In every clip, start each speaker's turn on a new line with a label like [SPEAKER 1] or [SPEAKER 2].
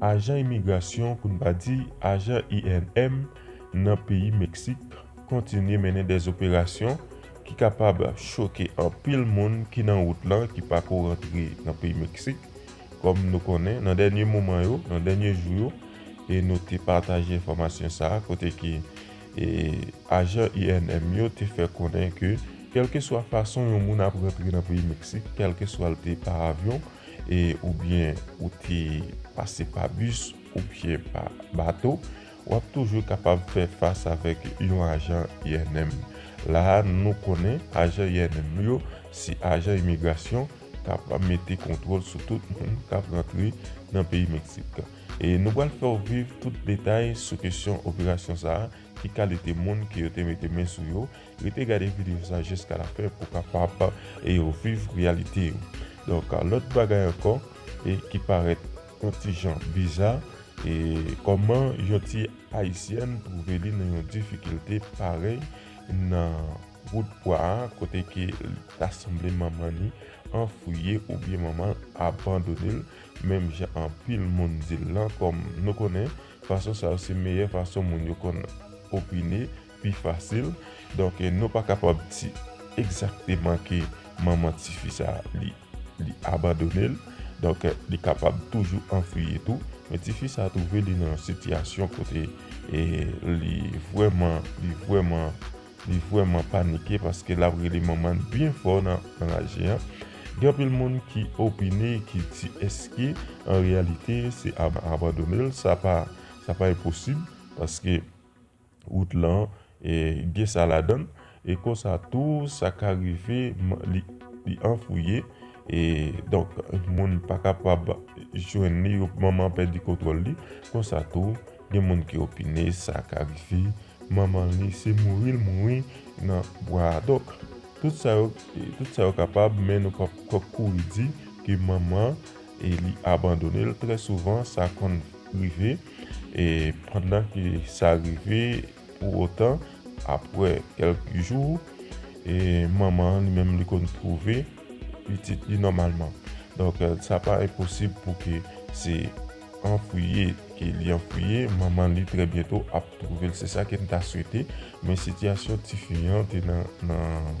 [SPEAKER 1] Ajan imigrasyon, pou n pa di ajan INM, nan peyi Meksik kontinye mennen dè operasyon ki kapab choke anpil moun ki nan wout lan ki pa ko rantre nan peyi Meksik. Kòm nou konnen, nan dènye moman yo, nan dènye jou yo, e nou te pataje enfòmasyon sa a kote ke ajan INM yo te fè konnen ke kèlkeswa fason yon moun ap rantre nan peyi Meksik, kèlkeswa l te pa avyon, e oubyen ou te pase pa bis oubyen pa bato, w ap toujou kapab fè fas avèk yon ajan INM. La a, nou konnen ajan INM yo se ajan imigrasyon k ap mete kontwòl sou tout moun k ap rantre nan peyi Meksik. E nou pral fè w viv tout detay sou kesyon operasyon sa a, ki kalite moun ke yo te mete men sou yo, Rete gade video sa jiska la fen pou kapab viv reyalite yo. Donk lòt bagay ankò ki parèt yon ti jan biza, kòman yon ti ayisyèn twouve li nan yon difikilte parèy nan wout bwa a kote ke ta sanble manman li anfwiye oubyen manman l abandone l menm jan anpil moun di l lan kòm nou konnen fason sa yo se meyè fason moun yo konn opine pi fasil donk nou pa kapab di egzakteman ke manman tifi sa li li abandonel donk li kapab toujou anfwiye tou men tifi sa twouve li nan yon sitiyasyon kote li vwèman li vwèman li vwèman panike paske lap rele manman l byen fò nan raje an gen anpil moun ki opine ki di eske an reyalite se abandonel sa pa sa pa enposib paske. Wout lan gen sa ladan l. E konsa tou sa ka rive li anfouye. E donk moun pa kapab jwenn li. Manman pèdi kontwòl li. Konsa tou gen moun ki opine sa ka rive manman li se mouri l mouri nan bwa a. Donk tout sa yo kapab men nou pap kouri di ke manman. e li abandone l trè souvan sa konn rive e pandan ke sa rive pou otan apre kèlk jou e manman an li menm li konn twouve pitit li nòmalman donk sa pa enposib pou ke se anfwiye ke li anfwiye manman li trè byento ap twouve l se sa ke m ta swete men sitiyasyon tifi an te nan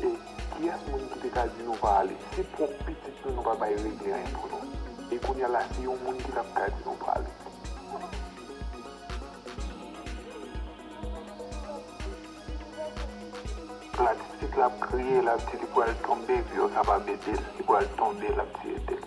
[SPEAKER 2] E kiyès moun ki te ka di nou pa ale? Se pwòp pitit nou nou pa bay regle anyen pou nou. E kounya la si yon moun ki tap ka di nou prale. La titit la ap kriye lap di li pral tonbe epi yo kapab edel li pral tonbe lap di edel.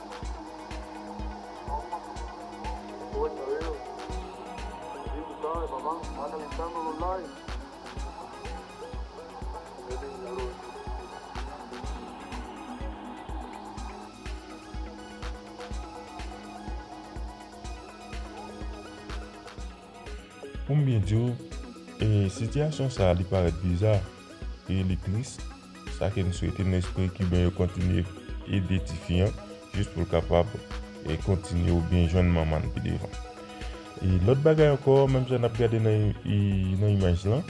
[SPEAKER 1] Poum byen diw, sitiyasyon sa li parèt biza e li tris. Sa ke m swete m espere kiben yo kontinye ede tifi an jis pou l kapab kontinye ou byen jwenn manman l pi devan. E lòt bagay ankò menm jan n ap gade nan imaj lan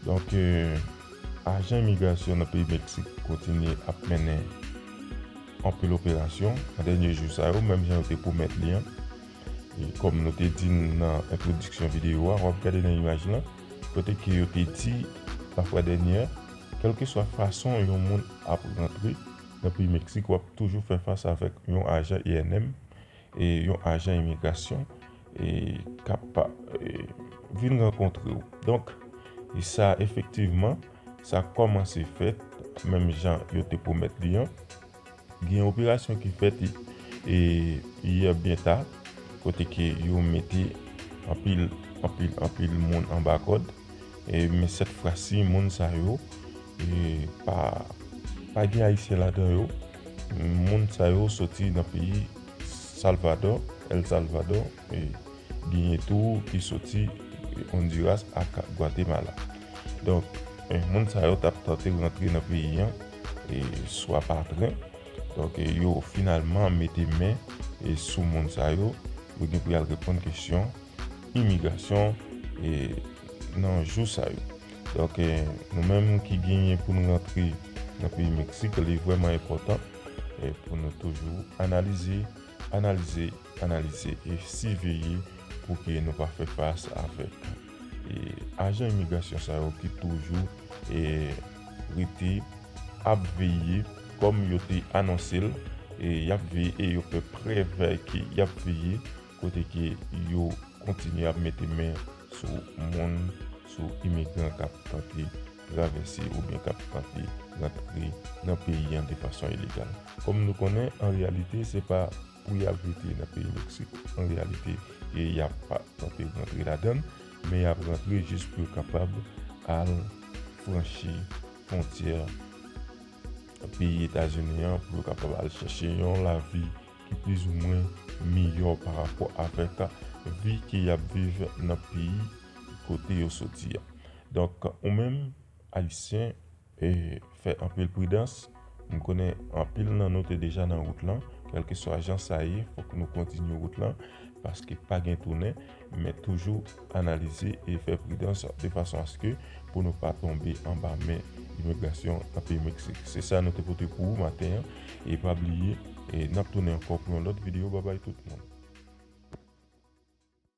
[SPEAKER 1] donk ajan imigrasyon nan peyi Meksik kontinye ap mennen anpil operasyon nan dènye jou sa yo menm jan yo te pwomèt li an. E kòm nou te di nan entwodiksyon videyo a w ap gade nan imaj lan. Kote ke yo te di, la fwa dènyè, kèlkeswa fason yon moun ap rantre nan peyi Meksik w ap toujou fè fas avèk yon ajan ENM, yon ajan imigrasyon k ap vin rankontre w. Donk, sa efektivman, sa kòmanse fèt menm jan yo te pwomèt li an. Gen yon operasyon ki fèt yè byen ta kote ke yo mete anpil anpil anpil moun anba kòd men sèt fwa si moun sa yo pa gen ayisyen ladan yo moun sa yo soti nan peyi salvadò el salvadò genyen tou ki soti ondiras ak gwatemala donk moun sa yo tap tante rantre nan peyi an swa pa plen donk yo finalman mete men sou moun sa yo yo gen pou yal reponn kesyon imigrasyon nan jou sa yo donk nou menm ki genyen pou nou rantre nan peyi Meksik li vreman enpotan pou nou toujou analize analize analize e siveye pou ke nou pa fè fas avèk Ajan imigrasyon sa yo ki toujou rete ap veye kòm yo te anonse l y ap veye e yo fè prèv ke y ap veye kote ke yo kontinye ap mete men sou moun sou imigran k ap tante travèse oubyen k ap tante rantre nan peyi an de fason ilegal kòm nou konnen an reyalite se pa pou y al rete nan peyi Meksik. An reyalite, y ap tante rantre ladan l, men y ap rantre jis pou yo kapab al franchi fwontyè peyi Etazini an, pou yo kapab al chèche yon lavi ki plizoumwen miyò pa rapò avèk vi ke y ap viv nan peyi kote yo soti a. Donk, ou menm, Ayisyen, E fè anpil pridans, m konnen anpil nan nou te deja nan wout lan, kèlkeswa jan sa ye fòk nou kontinye wout lan paske pa gen tounen, men toujou analize e fè pridans de fason aske pou nou pa tonbe anba men imigrasyon nan peyi Meksik. Se sa nou te pote pou ou maten an e pa bliye nap tounen ankò pou yon lòt videyo babay tout moun.